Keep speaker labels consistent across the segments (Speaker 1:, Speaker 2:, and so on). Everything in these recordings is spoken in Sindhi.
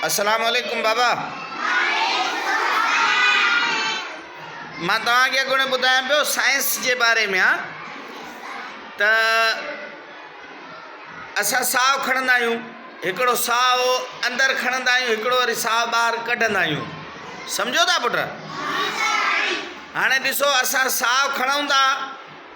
Speaker 1: السلام عليڪم بابا مان توهان کي اڳوڻي ٻڌايان پيو سائنس جي باري ۾ آ ته اسان ساهه کڻندا آهيون هڪڙو ساهه اندر کڻندا آهيون هڪڙو وري ساهه ٻاهر ڪڍندا آهيون سمجهو ٿا پٽ هاڻي ڏسو اسان ساهه کڻون ٿا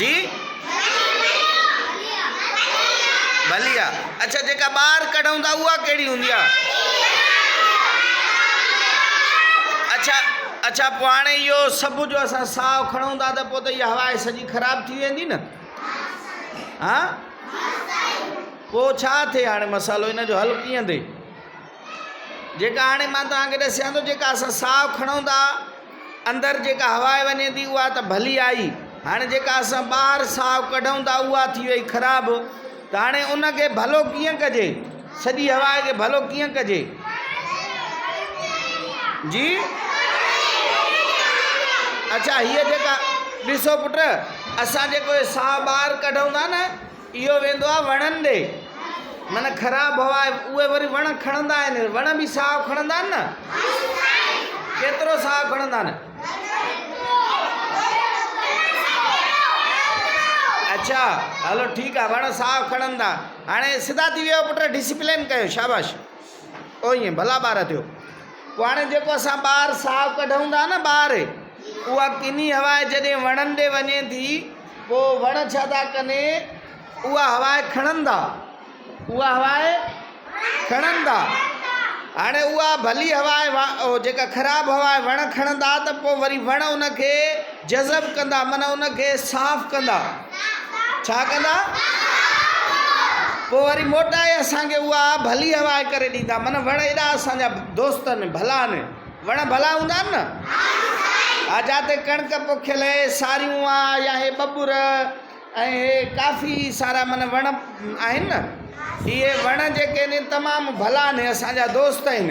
Speaker 1: جي ڀلي آ. اڇا جيڪا ٻاهر ڪڍون ٿا اها ڪهڙي هوندي آ؟ اڇا اڇا پوء هاڻي اهو سڀ جو اسان ساهه کڻون ٿا ته پوء ته اها هوا سڄي خراب ٿي ويندي نه ها پوء ڇا ٿئي هاڻي مسئلو ان جو حل ڪيئن ٿئي جيڪا هاڻي مان توهان کي ڏسيان ٿو، جيڪا اسان ساهه کڻون ٿا، اندر جيڪا هوا وڃي ٿي، اها ته ڀلي آئي، هاڻي جيڪا اسان ٻاهر ساهه ڪڍون ٿا، اها ٿي وئي خراب، ته هاڻي ان کي ڀلو ڪيئن ڪجي؟ سڄي هوا کي ڀلو ڪيئن ڪجي؟ جي؟ اڇا هيء جيڪا، ڏسو پٽ، اسان جيڪو هي ساهه ٻاهر ڪڍون ٿا نه، اهو ويندو آهي وڻن ڏي من خراب هوا اهي وري وڻ کڻندا آهن وڻ به ساهه کڻندا آهن نه ڪيترو ساهه کڻندا آهن اچھا هلو ٺيڪ آهي وڻ ساهه کڻندا هاڻي سڌا ٿي ويو پٽ ڊسپلين ڪيو شاباش او ائين ڀلا ٻار ٿيو. پوء هاڻي جيڪو اسان ٻاهر ساهه ڪڍون ٿا نه ٻاهر، اها ڪني هوا جڏهن وڻن ڏي وڃي ٿي، پوء وڻ ڇا ٿا ڪن، اها هوا کڻن ٿا، اها هوا کڻن ٿا. هاڻي اها ڀلي هوا جيڪا خراب هوا وڻ کڻندا ته پوء وري وڻ ان کي جذب ڪندا، معنيٰ ان کي صاف ڪندا. ڇا ڪندا؟ پوء وري موٽائي اسان کي اها ڀلي هوا ڪري ڏيندا. من وڻ ايڏا اسان جا دوست آهن، ڀلا آهن. وڻ ڀلا هوندا آهن نه؟ ها جاتي ڪڻڪ پوکيل اهي ساريون آ يا هي ٻٻر ۽ هي ڪافي سارا من وڻ آهن نه. اهي وڻ جيڪي آهن تمام ڀلا آهن، اسان جا دوست آهن.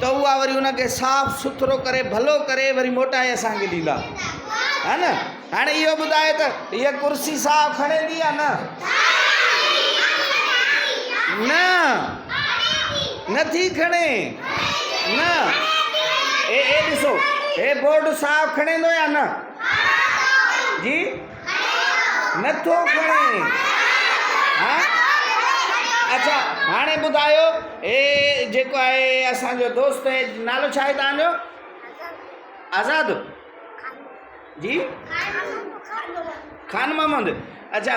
Speaker 1: ته اها وري ان کي صاف سٿرو ڪري ڀلو ڪري وري موٽائي اسان کي ڏيندا ها نه هاڻي اهو ٻڌاء ته هيء ڪرسي صاف کڻيندي يا نه نه نٿي کڻي نه اي اي ڏسو هي بورڊ صاف کڻيندو يا نه جي نه ٿو کڻي ها اچا هاڻي ٻڌايو هي جيڪو آهي اسانجو دوست آهي نالو ڇا آهي تانجو آزاد جي خان محمد اچا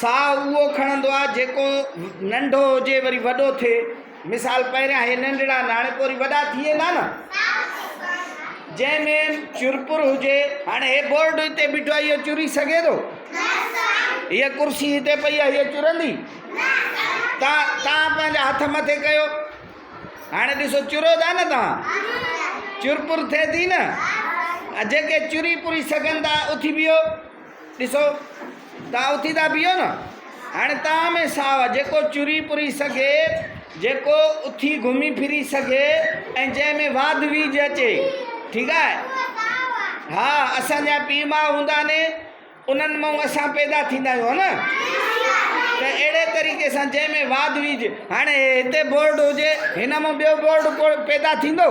Speaker 1: ساهه اهو کڻندو آهي جيڪو ننڍو هجي وري وڏو ٿئي. مثال، پهريان هي ننڍڙا ناڻي پوري وڏا ٿي ويندا نه. جنهن ۾ چرپر هجي. هاڻي هي بورڊ هتي بيٺو آهي اهو چري سگهي ٿو؟ هيء ڪرسي هتي پئي آهي هيء چرندي؟ تان توهان پنهنجا هٿ مٿي ڪيو. هاڻي ڏسو چريو ٿا نه توهان؟ چرپر ٿئي ٿي نه. جيڪي چري پري سگهن ٿا اٿي بيهو. ڏسو، توهان اٿي ٿا بيهو نه، هاڻي توهان ۾ ساهه جيڪو چري پري سگهي، جيڪو اٿي گهمي ڦري سگهي ۽ جنهن ۾ واڌ ويجهه اچي، ٺيڪ آهي. ها، اسان جا پيء ماء هوندا آهن، انهن مئن اسان پيدا ٿيندا آهيون، ها نه؟ ته اهڙي طريقي سان جنهن ۾ واڌ ويجهه، هاڻي هتي بورڊ هجي، هن مئن ٻيو بورڊ پيدا ٿيندو؟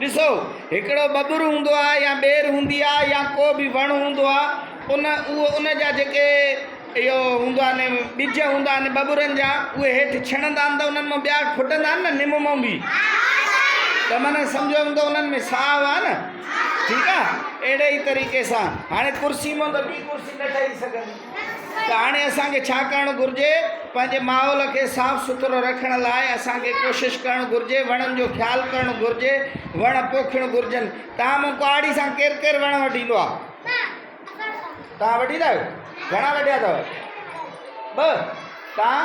Speaker 1: ڏسو، هڪڙو ٻٻر هوندو آهي يا ٻير هوندي آهي يا ڪو به وڻ هوندو آهي، ان اهو ان جا جيڪي اهو هوندا آهن ٻج هوندا آهن ٻٻرن جا اهي هيٺ ڇڻندا آهن ته انهن مون ٻيا ڦٽندا آهن نه نم مون به ته معنيٰ سمجهيو ته انهن ۾ ساهه آهي نه ٺيڪ آهي اهڙي ئي طريقي سان هاڻي ڪرسي مون ته ٻي ڪرسي نه ٺهي سگهندي ته هاڻي اسان کي ڇا ڪرڻ گهرجي؟ پنهنجي ماحول کي صاف سٿرو رکڻ لاء اسان کي ڪوشش ڪرڻ گهرجي، وڻن جو خيال ڪرڻ گهرجي، وڻ پوکڻ گهرجن. توهان مون ڪهاڙي سان ڪير ڪير وڻ وڍيندو آ؟ توهان وڍيندا آهيو؟ گهڻا وڍيا اٿو؟ ٻه؟ توهان؟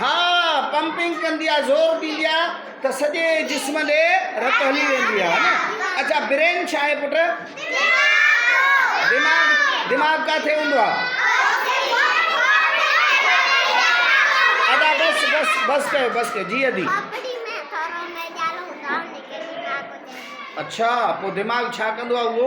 Speaker 1: ها پمپنگ ڪندي آ زور ڏيندي آ ته سڄي جسم ڏي رت هلي ويندي آ نه اچا برين ڇا آهي پٽ دماغ دماغ ڪاٿي هوندو آ ادا بس بس بس ڪيو بس ڪيو جي ادي اچھا پو دماغ ڇا ڪندو آ اهو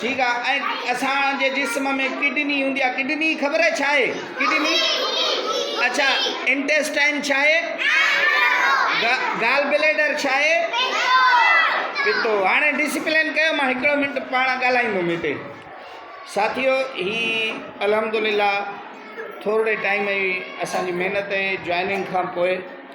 Speaker 1: ٺيڪ آ ۽ اسان جي جسم ۾ ڪڊني هوندي آ ڪڊني خبر آهي ڇا آهي ڪڊني اڇا انٽيسٽائن ڇا آهي گال بليڊر ڇا آهي پتو هاڻي ڊسپلين ڪيو مان هڪڙو منٽ پاڻ ڳالهائيندم هتي ساٿيو هي الحمدلله ٿورڙي ٽائيم جي اسان جي محنت جي جوائننگ کان پوء